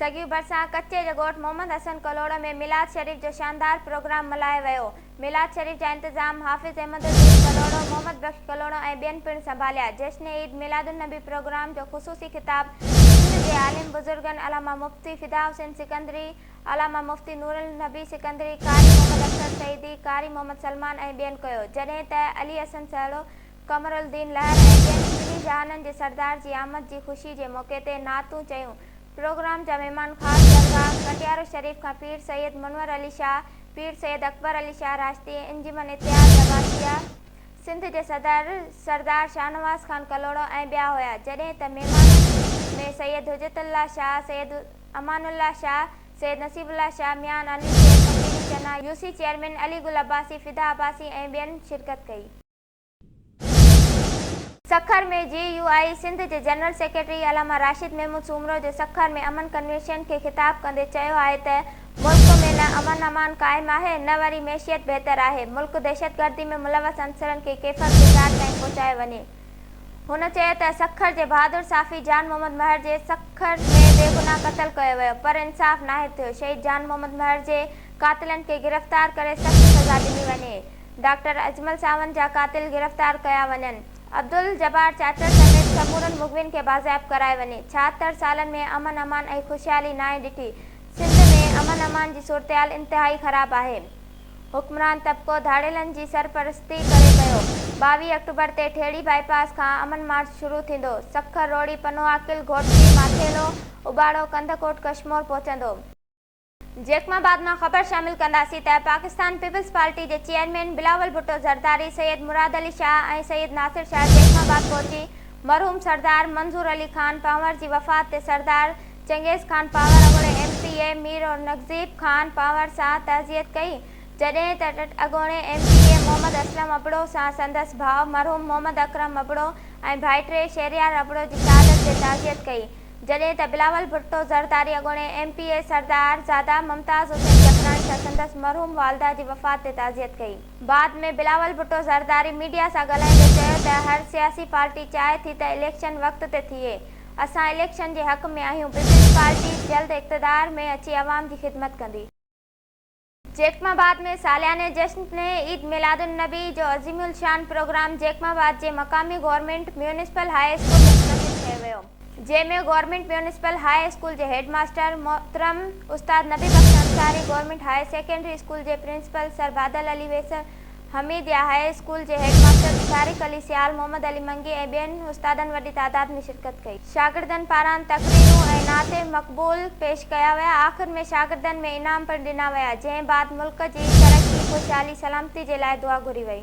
سگيو ڀرسان ڪچي جي ڳوٺ محمد حسن ڪلهوڙو ۾ ميلاد شريف جو شاندار پروگرام ملهايو ويو ميلاد شريف جا انتظام حافظ احمد الدين ڪلهوڙو محمد بخش ڪلهوڙو ۽ ٻين پڻ سنڀاليا جشن عيد ميلاد النبي پروگرام جو خصوصي خطاب سنڌ جي عالم بزرگن علامه مفتي فدا حسين سڪندري علامه مفتي نورالنبي سڪندري قاري محمد اختر سعيدي قاري محمد سلمان ۽ ٻين ڪيو جڏهن ته علي حسن سهڙو قمر الدين لهر ۽ ٻين سنڌي جهانن جي سردار جي آمد جي خوشي جي موقعي تي نعتون چيون پروگرام جا مهمان خاص درگاهه ڪٽيارو شريف کان پير سيد منور علي شاهه پير سيد اڪبر علي شاهه راشدي انجمن اتحاد لباسيه سنڌ جي صدر سردار شاهنواز خان ڪلهوڙو ۽ ٻيا هيا جڏهن ته مهمانن ۾ سيد حجت الله شاهه سيد امان الله شاهه سيد نصيب الله شاهه ميان علي شير فقيري چنا يوسي چيئرمين علي گل عباسي فدا عباسي ۽ ٻين شرڪت ڪئي. Sukkur ۾ J U I Sindh جي جنرل سيڪريٽري علامه راشد محمود سومرو جو سکر ۾ امن ڪنوينشن کي خطاب ڪندي چيو آهي ته ملڪ ۾ نه امن امان قائم آهي نه وري معيشت بهتر آهي ملڪ دهشتگردي ۾ ملوث عنصرن کي ڪيفر جي ڪار تائين پهچايو وڃي هن چيو ته سکر جي بهادر صحافي جان محمد مهر جي سکر ۾ بيگناهه قتل ڪيو ويو پر انصاف ناهي ٿيو شهيد جان محمد مهر جي قاتلن کي گرفتار ڪري سخت سزا ڏني وڃي. ڊاڪٽر اجمل ساوند جا قاتل گرفتار ڪيا وڃن، عبدالجبار چاچڙ سميت سمورن مغوين کي بازياب ڪرائي وڃي، ڇاهتر سالن ۾ امن امان ۽ خوشحالي ناهي ڏٺي، سنڌ ۾ امن امان جي صورتحال انتهائي خراب آهي، حڪمران طبقو ڌاڙيلن جي سرپرستي ڪري پيو، ٻاويهه آڪٽوبر تي ٺيڙهي بائي پاس کان امن مارچ شروع ٿيندو، سکر روهڙي پنوعاقل گهوٽڪي ماٿيلو، اٻاڙو ڪنڌڪوٽ ڪشمور پهچندو. جيڪم آباد مان خبر شامل ڪنداسين ته پاڪستان پيپلز پارٽي جي چيئرمين بلاول ڀٽو زرداري سيد مراد علي شاهه ۽ سيد ناصر شاهه جيڪم آباد پهچي مرحوم سردار منظور علي خان پنهور جي وفات تي سردار چنگيز خان پنهور اڳوڻي M P A Mir Aurangzeb Khan Panhwar سان تعزيت ڪئي جڏهن ته اڳوڻي M P A Muhammad Aslam Abro سان سندس ڀاء مرحوم محمد اڪرم ابڙو ۽ ڀائٽي شهريار ابڙو جي شهادت تي تعزيت ڪئي جڏهن ته بلاول ڀٽو زرداري اڳوڻي M P A Sardarzada Mumtaz Hussain Jakhrani سان سندس مرحوم والده جي وفات تي تعزيت ڪئي. بعد ۾ بلاول ڀٽو زرداري ميڊيا سان ڳالهائيندي چيو ته هر سياسي پارٽي چاهي ٿي ته اليڪشن وقت تي ٿئي اسان اليڪشن جي حق ۾ آهيون پيپلز پارٽي جلد اقتدار ۾ اچي عوام جي خدمت ڪندي. جيڪب آباد ۾ سالياني جشن پنهين عيد ميلاد النبي جو عظيم الشان پروگرام جيڪب آباد جي مقامي گورنمينٽ ميونسپل هاء اسڪول ۾ منعقد ڪيو ويو جنهن ۾ گورنمينٽ ميونسپل هاء اسڪول جي هيڊ ماستر محترم استاد Nabi Bakhsh Ansari government high secondary school جي principal sir Badal Ali Wassar Hameedia high school جي هيڊ ماستر به طارق علي سيال، محمد علي منگي ۽ ٻين استادن وڏي تعداد ۾ شرڪت ڪئي. شاگردن پاران تقريرون ۽ نعت مقبول پيش ڪيا ويا. آخر ۾ شاگردن ۾ انعام پڻ ڏنا ويا، جنهن بعد ملڪ جي ترقي، خوشحالي، سلامتي جي لاء دعا گهري وئي.